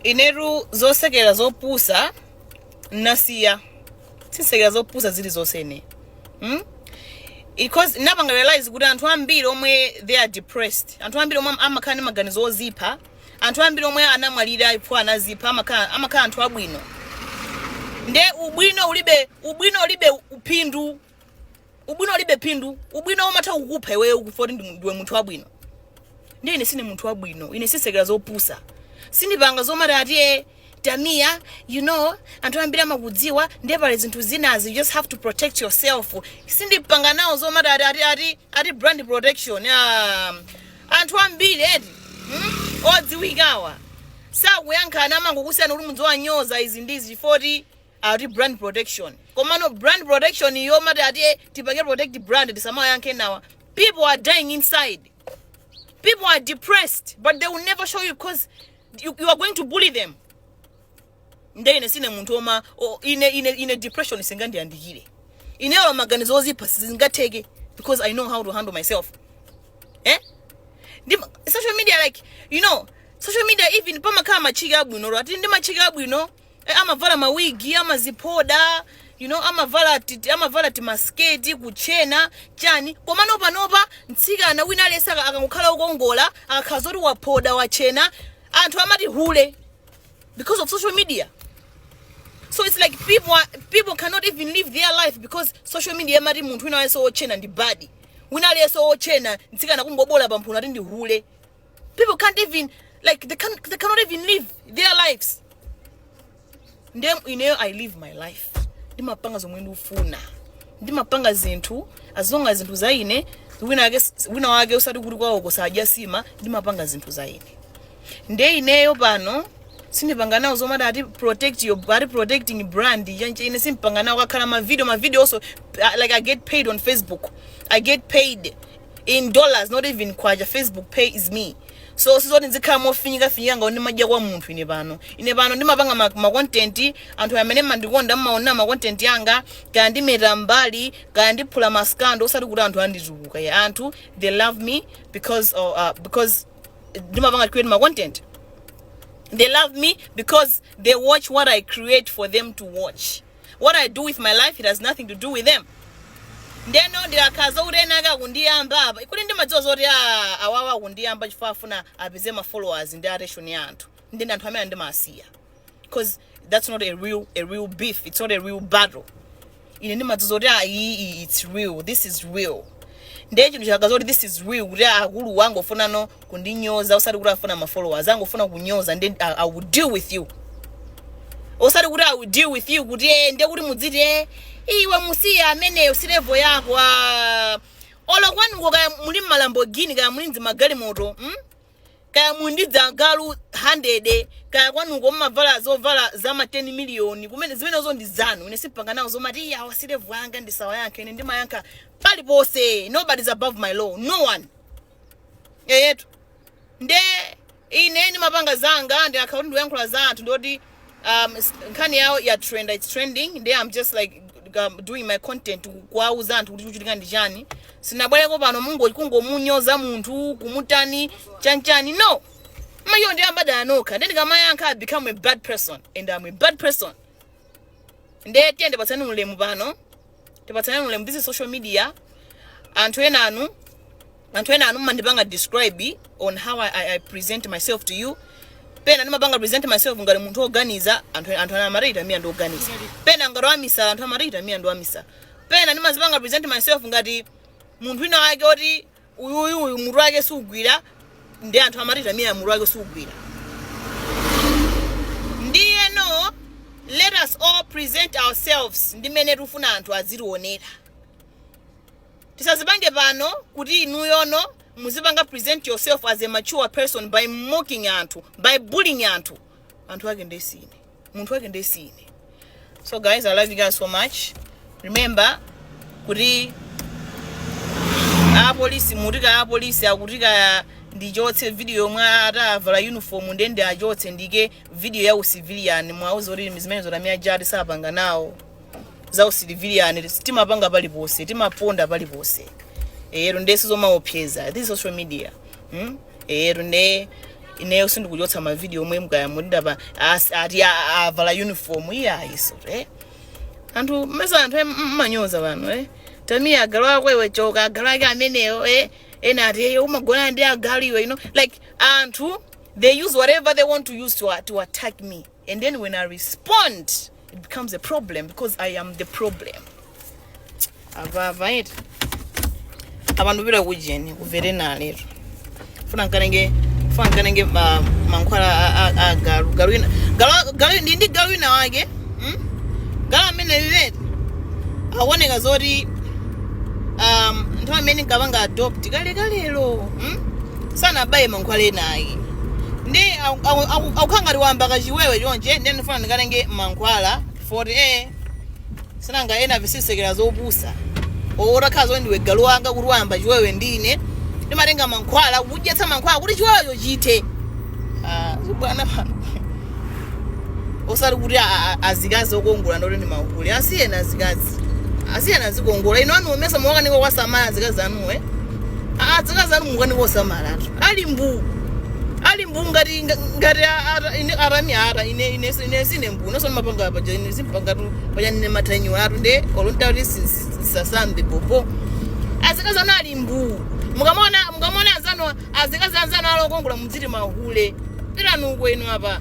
inetu zosekera zopusa nasiya sisekera zopusa zili zonse ine hmm? because napanga realize kuti anthu ambiri omwe they are depressed anthu ambiri omwe amakhala ndi maganizo ozipha anthu ambiri omwe anamwalira ipo anazipha amakhala anthu abwino nde ubwino ulibe ubwino ulibe phindu ubwino ulibe phindu ubwino umatha kukupha iweyo kufa kuti ndi- ndiwe munthu wabwino ndiye ine sine munthu wabwino ine sisekera zopusa sindipanga zomati ati e tamiya you know anthu ambiri amakudziwa ndiye pali zinthu zinazi you just have to protect yourself sindipanga nawo zomati ati ati ati ati brand protection ah, anthu ambiri eti hmm? odziwikawa sakuyankha anthu amangokusiyana kuti mudziwanyoza izi ndizi foti ati brand protection komano brand protection yomati ati eh, tipange protect brand tisamawayankhe enawa people are dying inside people are depressed but they will never show you because you, you are going to bully them nde ine sine munthu oma o- ine ine ine depression isingandiyandikire ineyo maganizo ozipha sizingatheke because i know how to handle myself eh ndi social media like you know social media even pamakhala matchiki abwino ro ati ndi matchiki abwino Eh, amavala mawigi amaziphoda you know amavala ti- amavala timasiketi kutchena chani komano panopa mtsikana wina aliyense aka- akangokhala wokongola akakhala zoti waphoda watchena anthu amati hule because of social media so it's like people are, people cannot even live their life because social media amati munthu wina aliyense wotchena ndi bad wina aliyense wotchena mtsikana kungoboola pamphuno ati ndi hule people can't even like they, can, they cannot even live their lives nde ineyo i live my life ndimapanga zomwe ndikufuna ndimapanga zinthu as long as zinthu za ine wina wake wina wake usati kuti kwawoko sadya nsima ndimapanga zinthu za ine nde ineyo pano sindipanga nawo zomati ati protect your ati protecting brand chanche ine simpanga nawo kukakhala mavideo mavideo also uh, like i get paid on facebook i get paid in dollars not even kwacha facebook pays me so sizoti nzikhala mofinyika finyika ngati ndimadya kwa munthu ine pano ine pano ndimapanga ma, ma content anthu amene mmandikonda mmaonera ma content yanga kaya ndimeta mbali kaya ndiphula maskando osati kuti anthu anditukuka iyayi anthu they love me because of, uh, because ndimapanga create ma content they love me because they watch what i create for them to watch what i do with my life it has nothing to do with them ndeno ndikakhala zokuti ena ake akundiyamba apa kuti ndimadziwa zoti a- awawa akundiyamba chifukwa afuna apeze ma followers ndi attention ya anthu ndi anthu amene ndimasiya because that's not a real a real beef it's not a real battle ine ndimadziwa zoti ah, iyi iyi it's real this is real ndiye chinthu chikakhala kuti this is real kuti akulu wangu ofunano kundinyoza osati kuti afuna ma followers angofuna kunyoza nde I, I will deal with you osati kuti I will deal with you kuti eh nde kuti mudziti eh iwe musiya ameneyo si level yako ah olo kwanuko kaya muli ma Lamborghini kaya muli ndi magalimoto mm? kaya mudyetsa agalu 100 kaya kwanuko mumavala zovala za ma 10 miliyoni kumene zimenezo ndi zanu ine sindipanga nawo zomati iyayi si level yanga ndisawayankhe ine ndimayankha paliponse nobody is above my law no one eyetu nde ine ndimapanga zanga ndi account ndikuyankhula za anthu ndoti um, s- nkhani yawo ya trend its trending nde i'm just like um, doing my content kuwauza anthu kuti kuchitika ndi chani sinabwereko pano mungo kungomunyoza munthu kumutani chanchani no mayo ndi ambanda nokha nde ndikamayankha i become a bad person and i'm a bad person nde tiyende patsani ulemu pano tipatsaneni ulemu this is social media anthu enanu anthu ena anu mmandipanga describe on how I, I, I present myself to you pena ndimapanga present myself ngati munthu oganiza anthu anthu ana amati Tamia ndi oganiza pena ngati wamisala anthu amati Tamia ndi wamisala pena ndimazipanga present myself ngati munthu wina wake oti uyu uyu uyu mutu wake sugwira ndi anthu amati Tamia mutu wake sugwira ndiyeno let us all present ourselves ndi mmene tifuna anthu azitionera tisazipange pano kuti inuyono muzipanga present yourself as a mature person by mocking anthu by bullying anthu anthu ake ndesine munthu wake ndiye si ine so guys i love you guys so much remember kuti apolisi mutikaa apolisi akuti kaa ndichotse video yomwe atavala uniform nde ndiyichotse ndiike video ya usivilian muwauze kuti zimenezo Tamia Ja ati sapanga nawo za usivilian timapanga paliponse timaponda paliponse eti nde si zomaopseza this is social media hmm? eyetu nde ineyo sindikuchotsa mavidiyo omwe mukayankhula apa as- ati a- a- avala uniform iye ayiso eh? anthu mmesa anthu em- mmanyoza pano eh? Tamia agalu ako iwe choka agalu ake ameneyo eh? ena ati "Eh, umagona ndi agalu iwe you know? like anthu they use whatever they want to use to, to attack me and then when i respond it becomes a problem because i am the problem avava eti abantu bila kujeni kuvere nalero funa nkatenge funa nkatenge ma- mankhwala a- a- a galu galu ina galu galu ndi ndi galu ina wake mm? galu amene vet akuoneka zoti um, nthawi imene nkapanga adopt kale kalelo mm? sanabaye mankhwala ena ake ndi aku- aku- aku- akukhala ngati wayamba kachiwewe choncho nde ndifuna ndikatenge mankhwala 40 asing'anga ena visisekera zopusa otakhala zoti ndiwe galu wanga kuti wayamba chiwewe ndine ndimatenga mankhwala kukudyetsa mankhwala kuti chiwewecho chithe Ah, zibwana pano osati kuti a- a- azikazi okongola nde oti ndi mahule asiyeni azikazi asiyeni azikongola inu anu ndimesa mukukanika kuwasamala azikazi anuwe azikazi anu mukukanika kuwasamala atu ali mbuu ali mbuu ngati ngati a- ata- ine arami ara ine ine ine sine mbuu naso mapanga paja ine simpangatu paja ndine matanyo atu nde olontari sisasambe popo azikazi anu ali mbuu mukamona mukamona azanu azikazi anzanu ali okongola muziti mahule. Pitani uko inu apa.